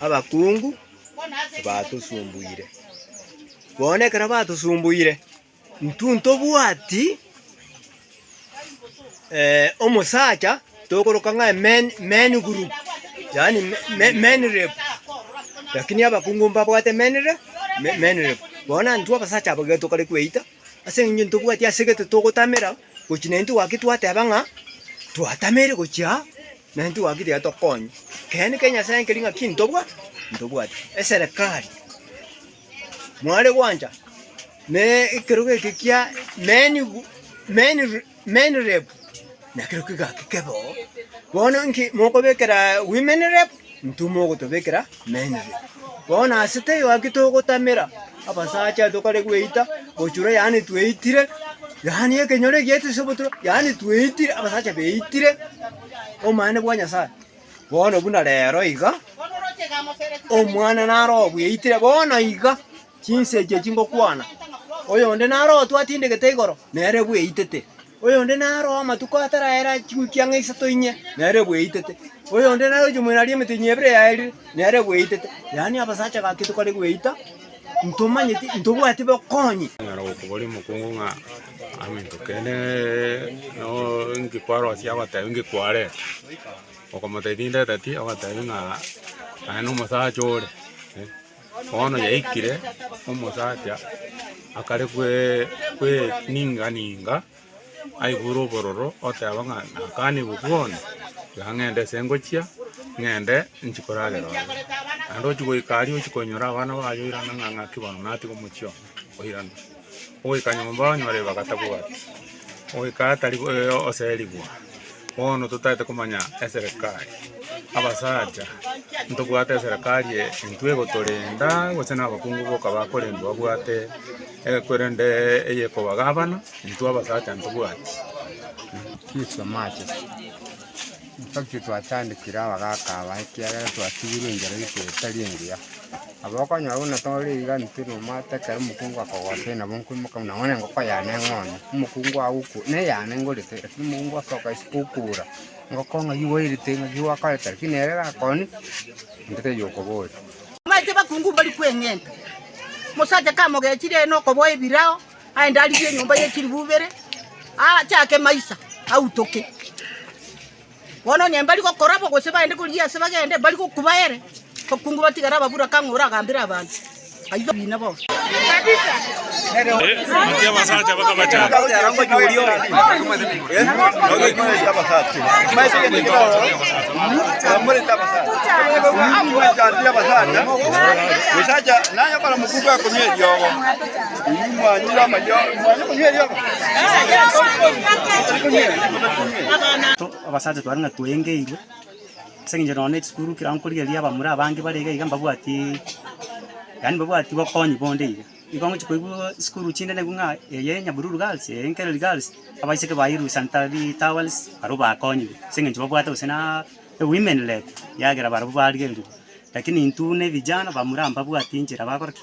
abakungu batosumbuire. Bono ekero batosumbuire, intwe ntobwati omosacha tokoroka ng'a men men group, yaani men rep, lakini abakungu mbabwate men rep men rep. Bono intwe abasacha abwo ekero tokare kweita, ase eng'encho ntobwati ase gete togotamera. gochia naintwe gwaki twateba ng'a twatameire gochia aa, naintwe gwaki tiga tokonye. Ekeene kia Nyasae nkeria ng'a ki ntobwa? Ntobwate eserekari mware gwancha na ekerogo eke kia men gu- men re- men rep, nakero kegaki kebe oo. Bono inki mokobekera women rep? Ntuma ogotobekera mensi. Bono nase teigo gaki togotamera abasacha aa tokare gweita bochura, yaani tweitire, yaani ekenyoro eki giaitire ase obotura, yaani tweitire, abasacha beitire omonene bwa Nyasaye. Bono buna rero iga, omwana nare obweitire bono iga, chinsa echi echingokwana, oyonde nare otwatindegete igoro, nere bweitete. Oyonde naroe amatuko ataraera ching'wikia ng'a isato inye, nere ebweitete. Oyonde naroche moirari emete inye ebere yaerire, nere ebweitete. Yaani abasacha aba ake tokare gweita, ntomanyeti, ntobwati bokonyi. Onyara gokoboria omokungu ng'a amento kende noo inki kwarosia agotebi inki kwareta, okomotebi tindeteti, ogotebi ng'a aye nomosacha ore. Bono yaikire, omosacha akare kweninga-ninga aigure obororo, oteba ng'a nakanigwe bwoni, tiga ng'ende ase ngochia, ng'ende nchi koragera ororo. Naende ochi goika aria ochi koinyora abana baye oirana ng'a ng'aki bono natiga omochie oo, oirana. Ogoika nyomba onyore ebibaga tabwati, ogoika atari oserigwa, bono totaete komanya eserekari, abasacha ntobwate eserekari eye intwe egotorenda gose na abakungu boka bakorendwa babwate korende eye ekobagabana intwe abasacha ntobwati. Ntokio twatandekire abagaaka aba, ekiagera twatigirwe enchera yaito etari engiya. Aba okonyora buna tore iga intwe nomwata, ekero omokungu akogosoe nabo nkoimoka buna bono engoko yane eng'onye, omokungu agoku neyane ngorete, lakini omokungu osoka isiko okobora, engoko ng'ai gwairete ng'aki gwakorete, lakini ere gakoni, intwe taiyo okoboria. Bamache abakungu mbari kweng'enta, omosacha kamogechire nokoboa ebirao. Aye ndarigie enyomba ye chiribu ibere, achake maisa, autoke. Bono onye mbari gokora bo gose baende korigia ase bagende, mbari gokuba ere, bakungu batigare ababura kang'o oragambere abanto. Aitha oboina bonsi. Abasacha tware ng'a twaengeirwe, ase eng'encho nonya ne chisukuru ekero nkorigereria abamura abange bare iga iga mbabwati, yaani mbabwati bokonyi bonde iga. Igo ngochia koigwa chisukuru chinde naigwa ng'a eye Nyabululu girls, eye Nkereri girls, abaiseke bairwe St. Towers barabwo bakonyigwe ase eng'encho babwate gose na women rep ekiagera barabwo barigerirwe. Lakini intwe buna ebijana bamura mbabwati enchera bakora ki?